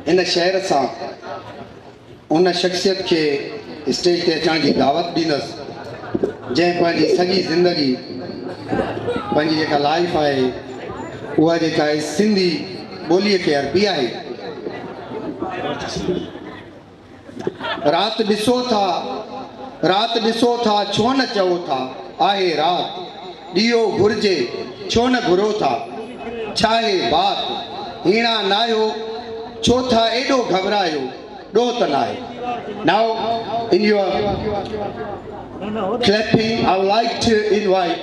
ان شعر سان ان شخصيت کي اسٽيج تي اچڻ جي دعوت ڏيندس جنهن پنهنجي سڄي زندگي پنهنجي جيڪا لائف آهي اها جيڪا آهي سنڌي ٻوليء کي ارپي آهي. رات ڏسو ٿا، رات ڏسو ٿا، ڇو نه چئو ٿا، آهي رات، ڏيئو گهرجي، ڇو نه گهرو ٿا، ڇاهي بات، هيڻا ناهيو، ڇو ٿا ايڏو گهٻرايو، ڏوهه ته ناهي. Now in your clapping I would like to invite.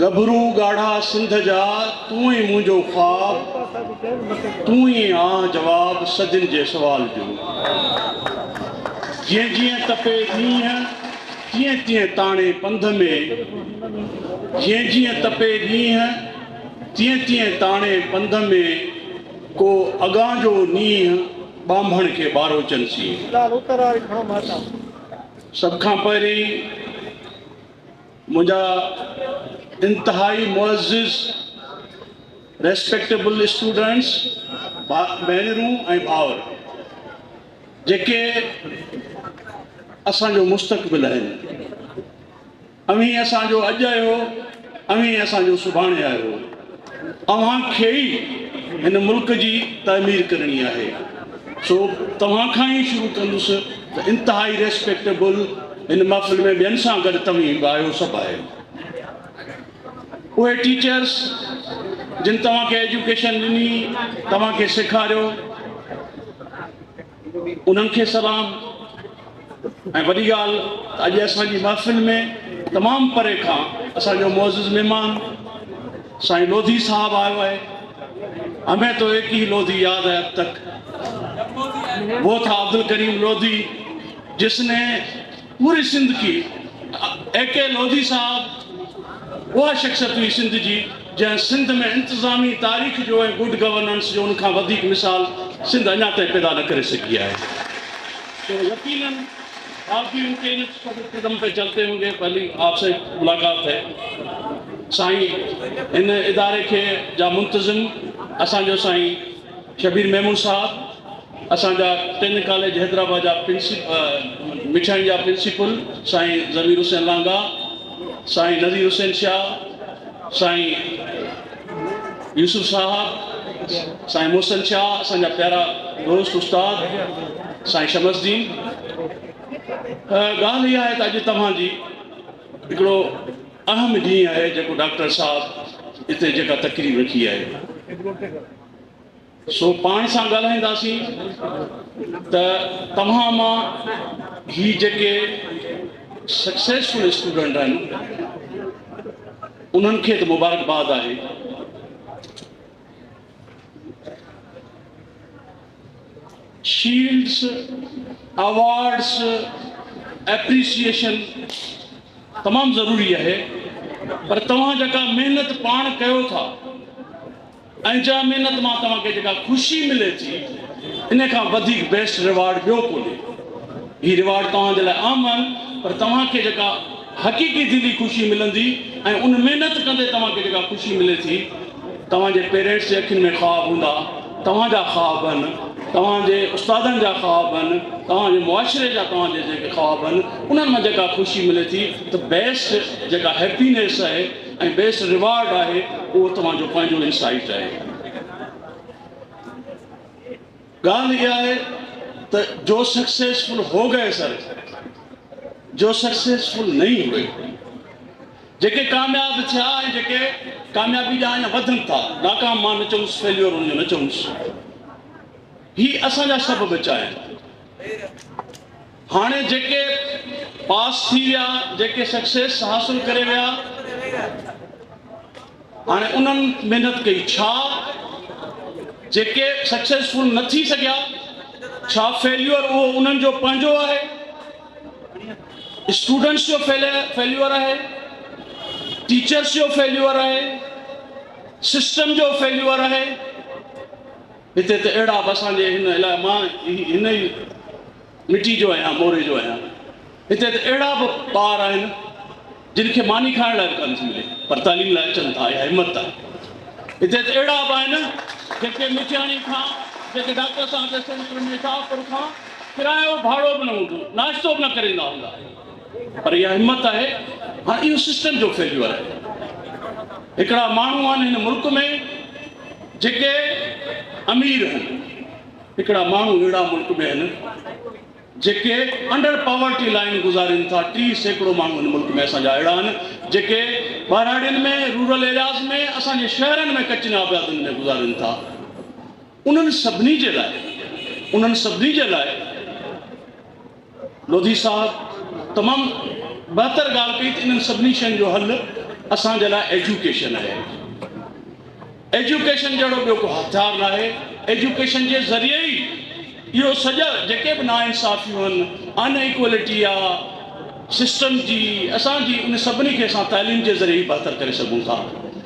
ڳڀرو ڳاڙها سنڌ جا، تون ئي منهنجو خواب، تون ئي آن جواب صدين جي سوال جو. جيئن جيئن تپي ڏينهن، تيئن تيئن تاڻي پنڌ ۾، جيئن جيئن تپي ڏينهن، تيئن تيئن تاڻي پنڌ ۾، ڪو اڳان جو نينهن، ٻانڀڻ کي ٻارو چنسين. سڀ کان پهرين. منهنجا انتهائي معزز Respectable Students، ڀينرون ۽ ڀائر جيڪي اسان جو مستقبل آهن. اوهين اسان جو اڄ آهيو، اوهين اسان جو سڀاڻي آهيو. اوهان کي ئي هن ملڪ جي تعمير ڪرڻي آهي سو توهان کان ئي شروع ڪندس ته انتهائي ريسپيڪٽيبل هن محفل ۾ ٻين سان گڏ توهين به آهيو سڀ آهيو اهي ٽيچرس جن توهان کي ايجوڪيشن ڏني توهان کي سيکاريو انهن کي سلام ۽ وڏي ڳالهه ته اڄ اسان جي محفل ۾ تمام پري کان اسان جو معزز مهمان سائين لوڌي صاحب آيو آهي همه تو ايڪ هي لوڌي ياد هي اب تڪ وو ٿا عبدالڪريم لوڌي جس ني پوري سنڌ کي اي ڪي لوڌي صاحب اها شخصيت هئي سنڌ جي جنهن سنڌ ۾ انتظامي تاريخ جو ۽ گڊ گورننس جو ان کان وڌيڪ مثال سنڌ اڃا تائين پيدا نه ڪري سگهي آهي تو يقينن آپ بي ان ڪي نقش قدم پي چلتي هونگي پهلي آپ سي ملاقات هي سائين ان اداري کي جا منتظم اسان جو سائين شبير ميمڻ صاحب اسان جا ٽن ڪاليج حيدرآباد جا مٺائين جا پرنسپل سائين ضمير حسين لانگا سائين نذير حسين شاهه سائين يوسف صاحب سائين محسن شاهه اسان جا پيارا دوست استاد سائين شمس دين ڳالهه اها آهي ته اڄ توهان جي هڪڙو اهم ڏينهن آهي جيڪو ڊاڪٽر صاحب هتي جيڪا تقريب رکي آهي سو پاڻ سان ڳالهائينداسين ته توهان مان هي جيڪي سڪسيسفل اسٽوڊنٽ آهن انهن کي ته مبارڪباد آهي شيلڊس اوارڊس اپريسيشن تمام ضروري آهي پر توهان جيڪا محنت پاڻ ڪيو ٿا ۽ جنهن محنت مان توهان کي جيڪا خوشي ملي ٿي ان کان وڌيڪ بيسٽ ريوارڊ ٻيو ڪونهي. هي ريوارڊ توهان جي لاء اهم آهن پر توهان کي جيڪا حقيقي دلي خوشي ملندي ۽ ان محنت ڪندي توهان کي جيڪا خوشي ملي ٿي توهان جي پيرينٽس جي اکين ۾ خواب هوندا توهان جا خواب هن توهان جي استادن جا خواب هن توهان جي معاشري جا توهان جي جيڪي خواب هن انهن مان جيڪا خوشي ملي ٿي ته بيسٽ جيڪا هيپينيس اهي ۽ بيسٽ ريوارڊ آهي اهو توهان جو پنهنجو انسائيٽ آهي. ڳالهه اها آهي ته جو سڪسيسفل هو گئي سر جو سڪسيسفل نهي هئي. جيڪي ڪامياب ٿيا ۽ جيڪي ڪاميابي ڏانهن اڃا وڌن ٿا ناڪام مان نه چونس فيليور ان جو نه چونس هي اسان جا سڀ ٻچا آهن. هاڻي جيڪي پاس ٿي ويا، جيڪي سڪسيس حاصل ڪري ويا، هاڻي انهن محنت ڪئي ڇا؟ جيڪي سڪسيسفل نه ٿي سگهيا، ڇا فيليور اهو انهن جو پنهنجو آهي؟ اسٽوڊنٽس جو فيليور آهي؟ ٽيچرس جو فيليور آهي؟ سسٽم جو فيليور آهي؟ هتي ته اهڙا به اسان جي هن علائقي مان هن ئي مٽي جو آهيان موري جو آهيان هتي ته اهڙا به ٻار آهن جن کي ماني کائڻ لاء به ڪانه ٿي ملي پر تعليم لاء اچن ٿا اها همت آهي هتي ته اهڙا به آهن جيڪي مٺياڻي کان جيڪي ڊاڪٽر صاحب جي سينٽر ۾ شاهپور کان ڪرايو ڀاڙو به نه هوندو ناشتو به نه ڪري ايندا هوندا پر اها همت آهي هاڻ اهو سسٽم جو فيليور آهي هڪڙا ماڻهو آهن هن ملڪ ۾ جيڪي امير آهن هڪڙا ماڻهو اهڙا ملڪ ۾ آهن جيڪي انڊر پاورٽي لائين گذارين ٿا، ٽي سيڪڙو ماڻهو هن ملڪ ۾ اسان جا اهڙا آهن جيڪي ٻهراڙين ۾ رورل ايرياز ۾ اسان جي شهرن ۾ ڪچين آبيادين ۾ گذارين ٿا انهن سڀني جي لاء انهن سڀني جي لاء لوڌي صاحب تمام بهتر ڳالهه ڪئي ته انهن سڀني شين جو حل اسان جي لاء ايجوڪيشن آهي ايجوڪيشن جهڙو ٻيو ڪو هٿيار ناهي ايجوڪيشن جي ذريعي ئي اهو سڄا جيڪي به ناانصافيون ان ان ايڪويلٽي آ سسٽم جي اسان جي ان سڀني کي اسان تعليم جي ذريعي ئي بهتر ڪري سگهون ٿا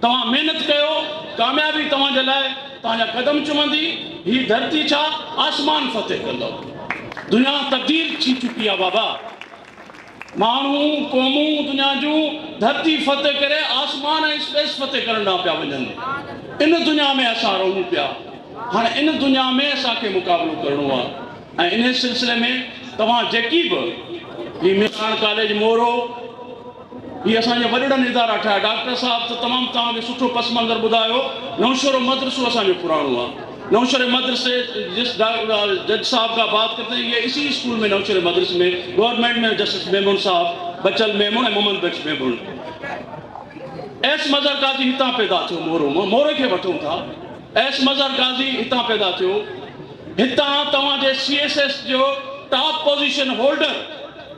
توهان محنت ڪيو، ڪاميابي توهان جي لاء توهان جا قدم چمندي، هي ڌرتي ڇا آسمان فتح ڪندو. دنيا تبديل ٿي چڪي آ بابا. ماڻهو، قومون، دنيا جون ڌرتي فتح ڪري آسمان ۽ اسپيس فتح ڪرڻ ڏانهن پيا وڃن. ان دنيا ۾ اسان رهون پيا. هاڻ ان دنيا ۾ اسان کي مقابلو ڪرڻو آ ۽ انهي سلسلي ۾ توهان جيڪي به هي ميزان ڪاليج مورو، هي اسان جي وڏڙن ادارا ٺاهيا ڊاڪٽر صاحب ته تمام توهان کي سٺو پس منظر ٻڌايو نوشهرو مدرسو اسان جو پراڻو آ نوشهري مدرسي جس جج صاحب کان بات ڪرتي هي اسي اسڪول ۾ نوشهري مدرسي ۾ گورنمنٽ ۾ جسٽس ميمون صاحب بچل ميمون ۽ محمد بخش ميمون ايس مظهر قاضي هتان پيدا ٿيو مورو مان موري کي وٺون ٿا ايس مظهر قاضي هتان پيدا ٿيو هتان توهان جي سي ايس ايس جو top position holder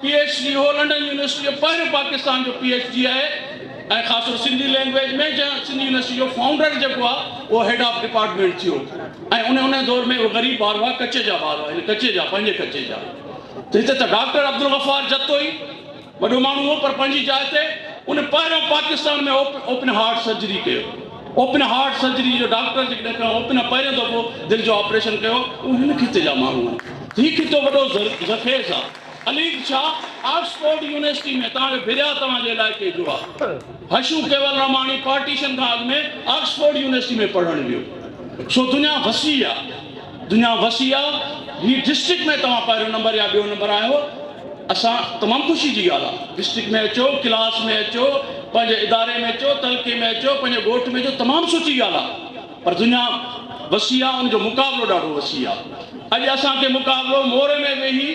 P H D هو لنڊن يونيورسٽي جو پهريون پاڪستان جو پي ايڇ ڊي آهي ۽ خاص طور سنڌي لينگويج ۾ جنهن سنڌي يونيورسٽي جو فائونڊر جيڪو آهي اهو هيڊ آف ڊپارٽمينٽ ٿيو ۽ ان ان دور ۾ غريب ٻار هئا ڪچي جا ٻار هئا ڪچي جا پنهنجي ڪچي جا ته هتي ته ڊاڪٽر عبدالغفار جتوئي وڏو ماڻهو هو پر پنهنجي جاء تي ان پهريون پاڪستان ۾ اوپن هارٽ سرجري ڪيو اوپن هارٽ سرجري جو ڊاڪٽر جيڪڏهن اوپن پهريون دفعو دل جو آپريشن ڪيو اهو هن خطي جا ماڻهو آهن هي خطو وڏو زرخيز آهي عليگ شاھ آڪسفورڊ يونيورسٽي ۾ توهان جو ڀريا توهان جي علائقي جو آ. حشو ڪيولراماڻي پارٽيشن کان اڳ ۾ آڪسفورڊ يونيورسٽي ۾ پڙهڻ ويو. سو دنيا وسيع آ. دنيا وسيع آ. هي ڊسٽرڪٽ ۾ توهان پهريون نمبر يا ٻيو نمبر آيا هو. اسان تمام خوشي جي ڳالهه آ. ڊسٽرڪٽ ۾ اچو، ڪلاس ۾ اچو، پنهنجي اداري ۾ اچو، تعلقي ۾ اچو، پنهنجي ڳوٺ ۾ اچو تمام سٺي ڳالهه آ. پر دنيا وسيع آ ان جو مقابلو ڏاڍو وسيع آ اڄ اسان کي مقابلو موري ۾ ويهي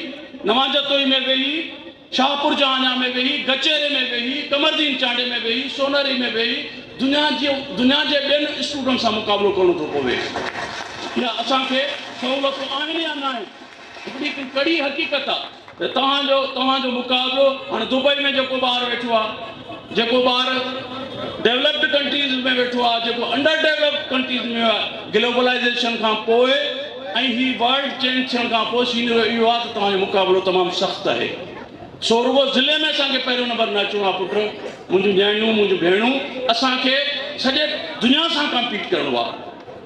نوان جتوئي ۾ ويهي شاهپور جهانيان ۾ ويهي گچيري ۾ ويهي قمردين چانڊي ۾ ويهي سونهري ۾ ويهي دنيا جي دنيا جي ٻين اسٽوڊنٽ سان مقابلو ڪرڻو ٿو پوي اها اسان کي سهولتون آهن يا ناهن. اها به هڪ ڪڙي حقيقت آ ته توهان جو توهان جو مقابلو هاڻ دبئي ۾ جيڪو ٻار ويٺو آ جيڪو ٻار ڊيولپڊ ڪنٽريز ۾ ويٺو آ جيڪو انڊر ڊيولپڊ ڪنٽريز ۾ آ گلوبلائيزيشن کان پوء ۽ هي ورلڊ چينج ٿيڻ کان پوء سينريو اهو آ ته توهان جو مقابلو تمام سخت آهي سو رڳو ضلعي ۾ اسان کي پهريون نمبر نه اچڻو آ پٽ منهنجون نياڻيون منهنجون ڀيڻون اسان کي سڄي دنيا سان ڪمپيٽ ڪرڻو آ.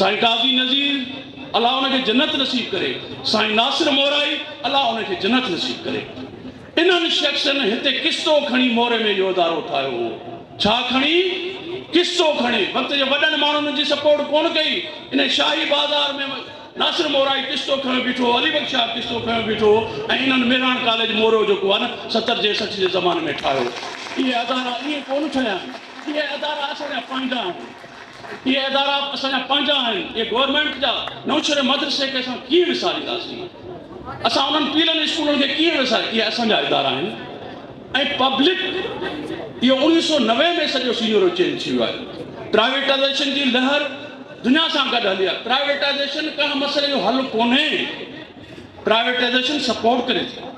سائين قاضي نذير الله ان کي جنت نصيب ڪري سائين ناصر مورائي الله ان کي جنت نصيب ڪري انهن شخصن هتي قصو کڻي موري ۾ اهو ادارو ٺاهيو هو ڇا کڻي قصو کڻي وقت جي وڏن ماڻهن جي سپورٽ ڪون ڪئي انهي شاهي بازار ۾ ناصر مورائي قصو کنيو بيٺو علي بخش شاهه قصو کنيو بيٺو ۽ انهن مهراڻ ڪاليج موريو جيڪو آهي نه ستر جي سٺ جي زماني ۾ ٺاهيو اهي ادارا ائين ڪون ٺهيا آهن اهي ادارا اسان جا پنهنجا آهن اهي ادارا اسان جا پنهنجا آهن، اهي گورنمينٽ جا، نئونشهري مدرسي کي اسان ڪيئن وسارينداسين؟ اسان انهن پيلن اسڪولن کي ڪيئن وساري اهي اسان جا ادارا آهن ۽ پبلڪ اهو اوڻيهه سؤ نوي ۾ سڄو سينيرو چينج ٿي ويو آهي، پرائيويٽائيزيشن جي لهر دنيا سان گڏ هلي آهي، پرائيويٽائيزيشن ڪنهن مسئلي جو حل ڪونهي. پرائيويٽائيزيشن سپورٽ ڪري ٿي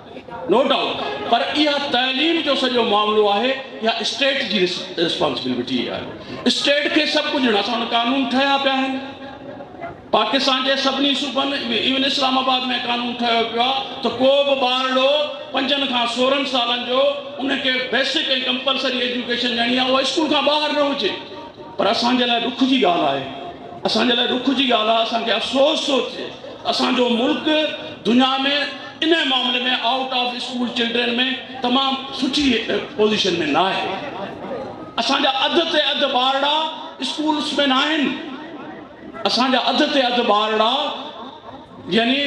نو ڊائوٽ پر اها تعليم جو سڄو معاملو آهي اها اسٽيٽ جي رسپانسبلٽي آهي اسٽيٽ کي سڀ ڪجهه اسان وٽ قانون ٺهيا پيا آهن پاڪستان جي سڀني صوبن ايون اسلام آباد ۾ قانون ٺهيو پيو آهي ته ڪو به ٻارڙو پنجن کان سورهن سالن جو ان کي بيسڪ ۽ ڪمپلسري ايجوڪيشن ڏيڻي آهي اها اسڪول کان ٻاهر نه هجي پر اسان جي لاء ڏک جي ڳالهه آهي اسان جي لاء ڏک جي ڳالهه آهي، اسان کي افسوس ٿو ٿئي ته اسان جو ملڪ دنيا ۾ انهي معاملي ۾ آئوٽ آف اسڪول چلڊرين ۾ تمام سٺي پوزيشن ۾ ناهي. اسان جا اڌ تي اڌ ٻارڙا اسڪولس ۾ ناهن. اسان جا اڌ تي اڌ ٻارڙا. يعني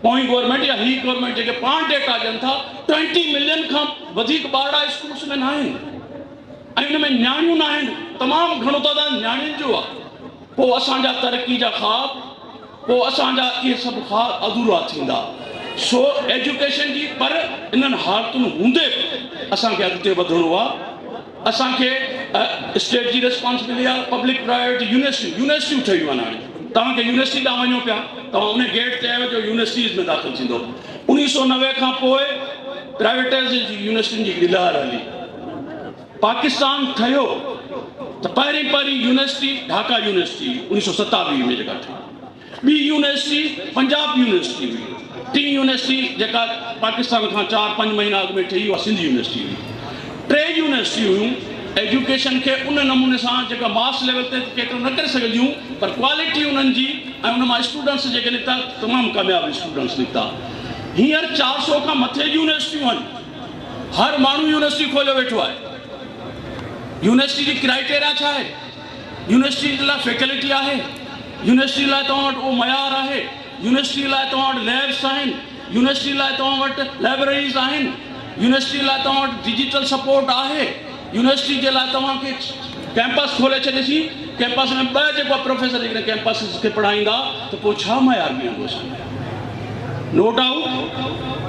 پوئين گورنمينٽ يا هي گورنمينٽ جيڪي پاڻ ڊيٽا ڏين ٿا ٽوئنٽي ملين کان وڌيڪ ٻارڙا اسڪولس ۾ ناهن ۽ ان ۾ نياڻيون ناهن تمام گهڻو تعداد نياڻين جو آهي پوء اسان جا ترقي جا خواب پوء اسان جا اهي سڀ خواب اڌورا ٿيندا سو ايجوڪيشن جي پر انهن حالتن هوندي به اسان کي اڳتي وڌڻو آهي اسان کي اسٽيٽ جي ريسپانس ملي آ پبلڪ پرائيويٽ يونيورسٽيون يونيورسٽيون ٺهيون آهن هاڻي توهان کي يونيورسٽي ڏانهن وڃو پيا توهان ان گيٽ تي آهيو جو يونيورسٽيز ۾ داخل ٿيندو انيس سو نوي کان پوء پرائيويٽائزيشن جي يونيورسٽين جي هڪڙي لهر هلي پاڪستان ٺهيو ته پهرين پهرين يونيورسٽي ڍاڪا يونيورسٽي انيس سو ستاويهه ۾ جيڪا ٺهي ٻي يونيورسٽي پنجاب يونيورسٽي هئي. ٽين يونيورسٽي جيڪا پاڪستان کان چار پنج مهينا اڳ ۾ ٺهي اها سنڌ يونيورسٽي هئي. ٽي يونيورسٽيون هيون ايجوڪيشن کي ان نموني سان جيڪا ماس ليول تي ته ڪيٽر نه ڪري سگهنديون پر ڪوالٽي انهن جي ۽ ان مان اسٽوڊنٽس جيڪي نڪتا تمام ڪامياب اسٽوڊنٽس نڪتا. هينئر چار سؤ کان مٿي يونيورسٽيون آهن. هر ماڻهو يونيورسٽي کوليو ويٺو آهي. يونيورسٽي جي ڪرائيٽيريا ڇا آهي؟ يونيورسٽيء لاء فيڪلٽي آهي، يونيورسٽيء لاء توهان وٽ اهو معيار آهي، يونيورسٽيء لاء توهان وٽ ليبس آهن، يونيورسٽيء لاء توهان وٽ لائبريريز آهن، يونيورسٽيء لاء توهان وٽ ڊجيٽل سپورٽ آهي، يونيورسٽيء جي لاء توهان کي ڪيمپس کولي ڇڏيسين، ڪيمپس ۾ ٻه جيڪو پروفيسر جيڪڏهن ڪيمپس کي پڙهائيندا ته پوء ڇا معيار بيهندو اسان جو؟ نو ڊائوٽ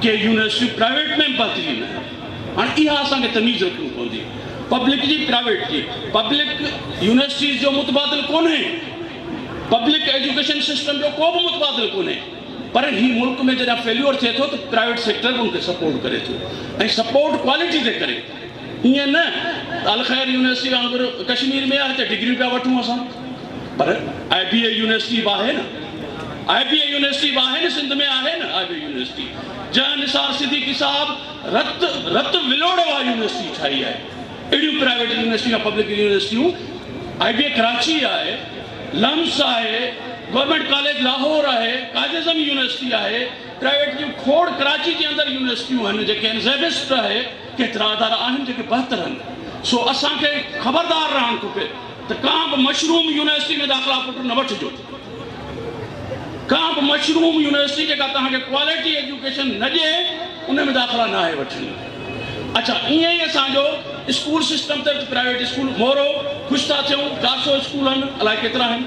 ڪي يونيورسٽيون پرائيويٽ ۾ به بهترين آهن. هاڻي اها اسان کي تميز رکڻي پوندي. پبلڪ جي پرائيويٽ جي. پبلڪ يونيورسٽيز جو متبادل ڪونهي. پبلڪ ايجوڪيشن سسٽم جو ڪو به متبادل ڪونهي. پر هي ملڪ ۾ جڏهن فيليور ٿئي ٿو ته پرائيويٽ سيڪٽر به ان کي سپورٽ ڪري ٿو ۽ سپورٽ ڪوالٽي تي ڪري. ائين نه ته الخير يونيورسٽي وانگر ڪشمير ۾ آهي هتي ڊگريون پيا وٺون اسان. پر آء بي اي يونيورسٽي به آهي نه. آء بي اي يونيورسٽي به آهي نه سنڌ ۾ آهي نه آء بي اي يونيورسٽي. جنهن نثار صديقي صاحب رت رت ولوڙ واري يونيورسٽي ٺاهي آهي اهڙيون پرائيويٽ يونيورسٽيون يا پبلڪ يونيورسٽيون آئي بي ڪراچي آهي لمس آهي گورنمينٽ ڪاليج لاهور آهي قائد اعظم يونيورسٽي آهي پرائيويٽ جون کوڙ ڪراچي جي اندر يونيورسٽيون آهن جيڪي آهن زيبسٽ آهي ڪيترا ادارا آهن جيڪي بهتر آهن سو اسان کي خبردار رهڻ کپي ته ڪا به مشروم يونيورسٽي ۾ داخلا پٽ نه وٺجو. ڪا به مشروم يونيورسٽي جيڪا توهان کي ڪواليٽي ايجوڪيشن نه ڏئي ان ۾ داخلا نه آهي وٺڻي. اڇا ائين ئي اسان جو اسڪول سسٽم تحت پرائيويٽ اسڪول مورو خوش ٿا ٿيون چار سو اسڪول هن الائي ڪيترا آهن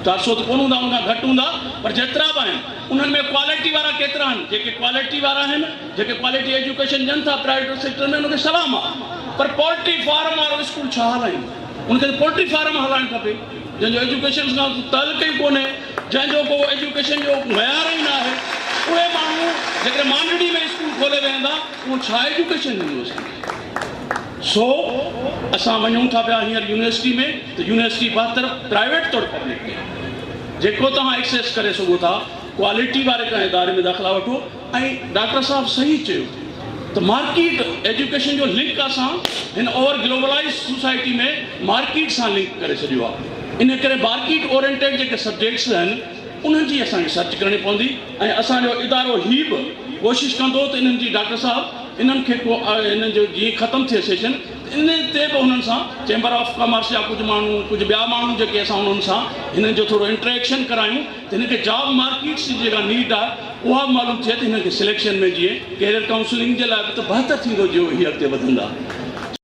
چار سو ته ڪونه هوندا ان کان گهٽ هوندا پر جيترا به آهن انهن ۾ ڪواليٽي وارا ڪيترا آهن جيڪي ڪواليٽي وارا آهن جيڪي ڪواليٽي ايجوڪيشن ڏين ٿا پرائيويٽ سيڪٽر ۾ ان کي سلام آهي پر پولٽري فارم وارو اسڪول ڇا هلائين ان کي ته پولٽري فارم هلائڻ کپي. جنهن جو ايجوڪيشن سان ڪو تعلق ئي ڪونهي، جنهن جو ڪو ايجوڪيشن جو معيار ئي ناهي، اهي ماڻهو جيڪڏهن مانڊڙي ۾ اسڪول کولي ويهندا اهو ڇا ايجوڪيشن هوندو اسان جي؟ سو اسان وڃون ٿا پيا هينئر يونيورسٽي ۾ ته يونيورسٽي بهتر پرائيويٽ طور پبلڪ ڏي، جيڪو توهان ايڪسيس ڪري سگهو ٿا ڪوالٽي واري ڪنهن اداري ۾ داخلا وٺو، ۽ ڊاڪٽر صاحب صحيح چيو ته مارڪيٽ ايجوڪيشن جو لنڪ اسان هن اوور گلوبلائيز سوسائٽي ۾ مارڪيٽ سان لنڪ ڪري ڇڏيو آ انهي ڪري مارڪيٽ اورينٽيڊ جيڪي سبجيڪٽس آهن انهن جي اسان کي سرچ ڪرڻي پوندي ۽ اسان جو ادارو هي به ڪوشش ڪندو ته انهن جي ڊاڪٽر صاحب انهن کي ڪو انهن جو جيئن ختم ٿئي سيشن انهي تي به انهن سان چيمبر آف ڪامرس جا ڪجهه ماڻهو ڪجهه ٻيا ماڻهو جيڪي اسان انهن سان هنن جو ٿورو انٽريڪشن ڪرايون ته هن کي جاب مارڪيٽس جي جيڪا نيڊ آهي اها به معلوم ٿئي ته هنن کي سليڪشن ۾ جيئن ڪيريئر ڪائونسلنگ جي لاء به ته بهتر ٿيندو جيئن هي اڳتي وڌندا.